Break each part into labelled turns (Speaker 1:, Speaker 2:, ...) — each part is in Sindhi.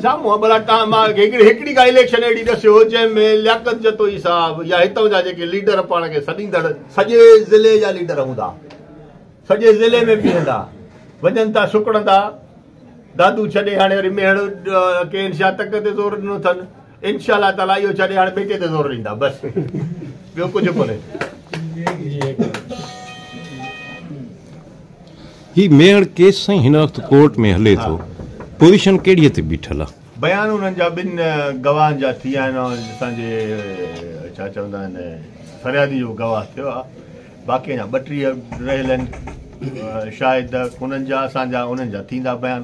Speaker 1: سامهون ابڙا ٽان مان کي هڪڙي هڪڙي ڪا اليڪشن اهڙي ڏسيو جنهن ۾ لياقت جتوئي صاحب يا هتان جا جيڪي ليڊر پاڻ کي سڏيندڙ سڄي ضلعي جا ليڊر هوندا سڄي ضلعي ۾ بيهندا وڃن ٿا سڪڙندا دادو ڇڏي هاڻي وري ميهڙ ڪي انشا تڪ تي زور ڏنو اٿن انشاء الله تعالي اهو ڇڏي
Speaker 2: هاڻي ٻيٽي تي زور ڏيندا بس ٻيو ڪجهه ڪونهي هي ميهڙ ڪيس سائين هن وقت ڪورٽ ۾ هلي ٿو پوزيشن ڪهڙي تي بيٺل آ بيان انهن جا ٻن
Speaker 1: گواهن جا ٿي آهن اسان جي ڇا چوندا آهن فريادي جو گواهه ٿيو آ باقي اڃا ٻٽيهه رهيل آهن شاهد انهن جا اسان جا انهن جا ٿيندا بيان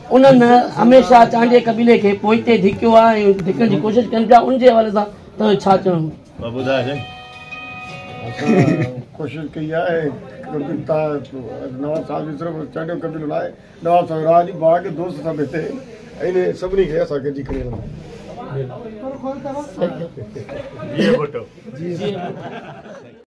Speaker 3: انهن هميشه چانڊيي قبيلي کي پوئتي ڌڪيو آهي ۽ ڌڪڻ جي ڪوشش ڪن پيا، ان جي حوالي سان توهان جو ڇا چوڻ هوندو؟ اسان
Speaker 4: ڪوشش ڪئي آهي نواب صاحب جي صرف چانڊيو قبيلو نه آهي، نواب صاحب راهه جي باغ دوست سڀ هتي آهن ۽ سڀني کي اسان گڏجي کڻي هلنداسين.